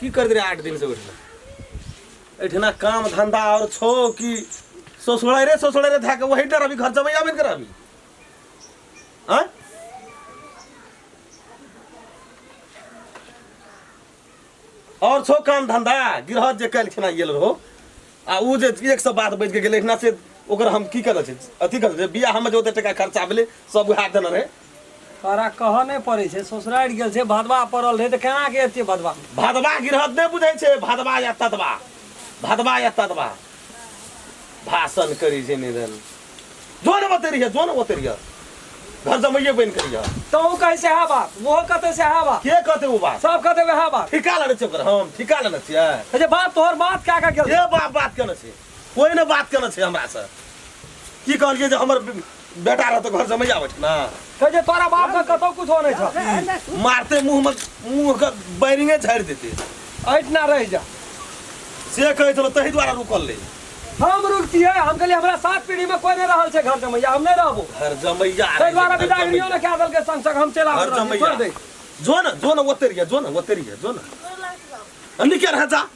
की करते रहे आठ दिन से उठना एठना काम धंधा और छो कि ससुराय रे ससुराय रे धाके वही डर अभी घर जबै आबे कर अभी हां और छो काम धंधा गिरह जे कल खना गेल रहो आ उ जे एक सब बात बैठ के गेले एठना से ओकर हम की करल छै अथी करल छै बियाह हम जे ओते टका खर्चा भेले सब हाथ देना रहे तोरा कहऽ नहि पड़ै छै ससुरारि गेल छै भदवा पड़ल रहै तऽ केना के एते भदवा भदवा गिरहत नहि बुझै छै भदवा या तदवा भदवा या तदवा भाषण करी छै निधन जो ने बते रहिए जो ने बते रहिए घर जमैये बनि के रहिए तहूँ कहै सएह बात ओहो कहतै सएह बात के कहते ओ बात सब कहतै वएह बात ठिका लेने छियै ओकर हम ठिका लेने छियै कहै छै बाप तोहर बात कए कऽ गेल ये बाप बात केने छै कोई ने बात केने छै हमरा से की कहलिए जे हमर बेटा रहतो घर से मैया बैठ ना कह जे तोरा बाप के कतो कुछ हो नै छ मारते मुंह में मुंह के बैरिंगे झाड़ देते ऐठ ना रह जा से कहै छलो तही द्वारा रुकल ले हम रुकती है हम कहलिए हमरा सात पीढ़ी में कोई नहीं रहल छै घर जमैया हम नहीं रहबो घर जमैया तै द्वारा विदागरियो ने क्या दल के संग संग हम चला घर जमैया जो ना जो ना ओतरिया जो ना ओतरिया जो ना अन्नी क्या रह जा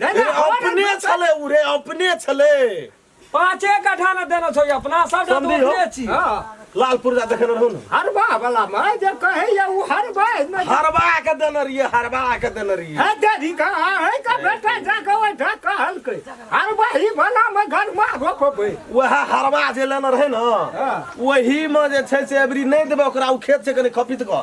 नहि, ए, नहि, हमरा अपने नहि- छलै उ रे अपने छलै पाँचे कट्ठा ने देने छौ अपना सब टा समझी हो। दोसरे छी हाँ। लाल पुर्जा देखेने रहौ ने हरबा वाला में जे कहैया उ हरबा में हरबा के देने रहिए हरबा के देने रहिए है देरी का है का बेटा जाके ओइ ढा कहलकै हरबा ही वाला में घर में रोकबै वएह हरबा जे लेने रहै ने हाँ। वही में जे छै से अबरी नहि देबै ओकरा ओ खेत छै कनि खपित कऽ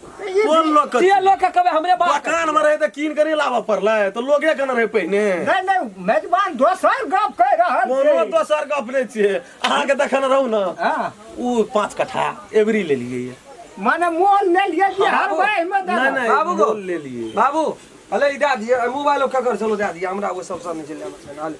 कोन लोग के ये लोग के कबे हमरे बात मकान में रहे त कीन के नहीं लाबऽ पड़लै त लोगे के न रहे पहिने नहीं नहीं मेजबान दोसर गप कह रहल कोनो छै। दोसर गप नहि छियै अहाँके देखने रहू ने हाँ, ओ पाँच कट्ठा एवरी ले लिए ये। माने मोल ले लिए कि हर बाबू, भाई में नहीं नहीं बाबू को- मोल ले लिए बाबू अले ई दए दिए मोबाइल ओकर कर चलो दए दिए हमरा ओ सब सब निकल जाना छै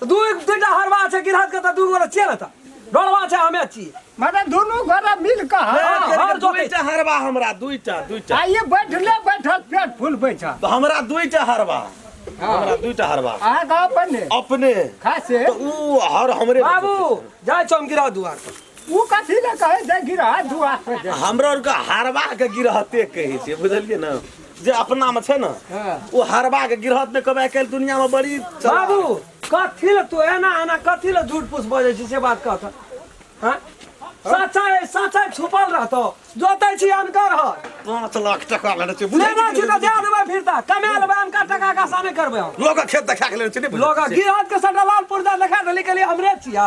तऽ दू दुइटा हरवा छै गिरहत के तऽ दू गोरा छियै ने तऽ डरवा छै हमे छियै माने दुनू गोरा मिल कऽ हँ, हँ, हँ, हर जोतै दुइटा हरबा हमरा दुइटा दुइटा आ ये बैठले बैठल पेट फुलबै छ तऽ हमरा दुइटा हरबा हमरा दुइटा हरबा अहाँ गाँव पर ने अपने खासे तऽ ऊ हर हमरे बाबू जाइ छौ हम गिरा दुआर पर ओ कथी ले कहै छै गिरा दुआ पर जे हमरा आरके हरबा के गिरहते कहै छै बुझलियै ने जे अपना में छे ना हाँ। वो हरबा के गिरहत में कबे कल दुनिया में बड़ी चला। बाबू कथी ले तू एना एना कथी ले झूठ पूछ बजे छी से बात कह त हां सच्चाई सच्चाई छुपल रहतो जोतै छी अनकर ह पाँच लाख टका लेने छे बुझे लेना छी त दे देबै फिरता कमा लेबै अनकर टका का साने करबै हम लोग के खेत देखा के लेने छे नहीं बुझे? लोग गिरहत के सटा लाल पुर्जा देखा देली के लिए हमरे छिया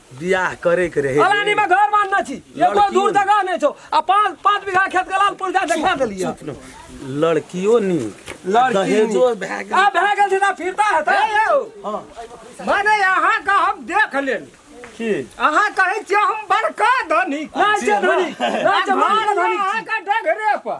बियाह करे के रहे फलानी में घर मानना छी एको लड़की दूर हो। जगह नहीं छो आ पांच पांच बीघा खेत के लाल पुरजा देखा देलिए लड़कियों नी लड़की दहेजो नी। भए गेल। आ भए गेल छै तऽ फिरता हेतै माने अहाँ का हम देख लेल की अहाँ कहै छियै हम बड़का धनी नहि छै धनी नहि छै मारल धनी अहाँ का डगरे पर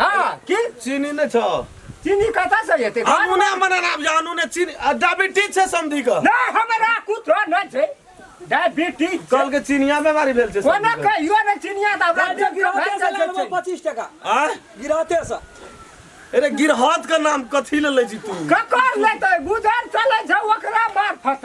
हाँ की चीनी ने छ चीनी कथा से येते आनु ने मने नाम जानु ने चीनी आ, डायबिटीज छै समधी क ना हमरा कुछो न छै डायबिटीज कल के चीनिया बीमारी भेल छै कोना समधी क। कहियो न चिनिया दा राज्य गिरहते से लगभग पच्चीस टका आ गिरहते से अरे गिरहत का नाम कथी ले ले जी तू ककर लेते गुजर चले छै ओकरा मार्फत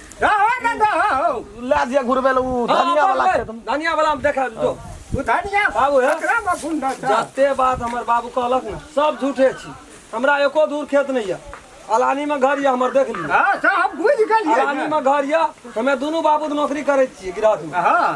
रहो ना रहो ला दिया घुरबे लो उ धनिया वाला के तुम धनिया वाला हम देखा जो उ धनिया बाबू है। एकरा में गुण ना था जते बात हमर बाबू कहलक ना सब झूठे छी हमरा एको दूर खेत नहीं है अलानी में घर या हमर देख ली हां तो हम बुझ गेलिए अलानी में घर या हमे दोनों बाबू नौकरी करे छी गृहस्थ में हां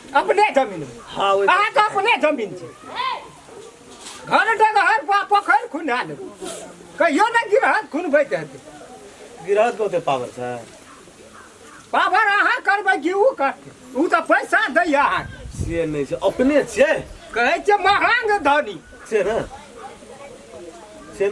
अपने जमीन हाँ ओहि अहाँ के अपने जमीन छै घर डगहर पा पोखरि खुना लेबै कहियो ने गिरहत खुनबैत हेतै गिरहत के ओते पावर छै पावर अहाँ करबै कि ओ करतै ओ तऽ पैसा दैए अहाँके से नहि छै अपने छियै कहै छै महांग धनी से ने से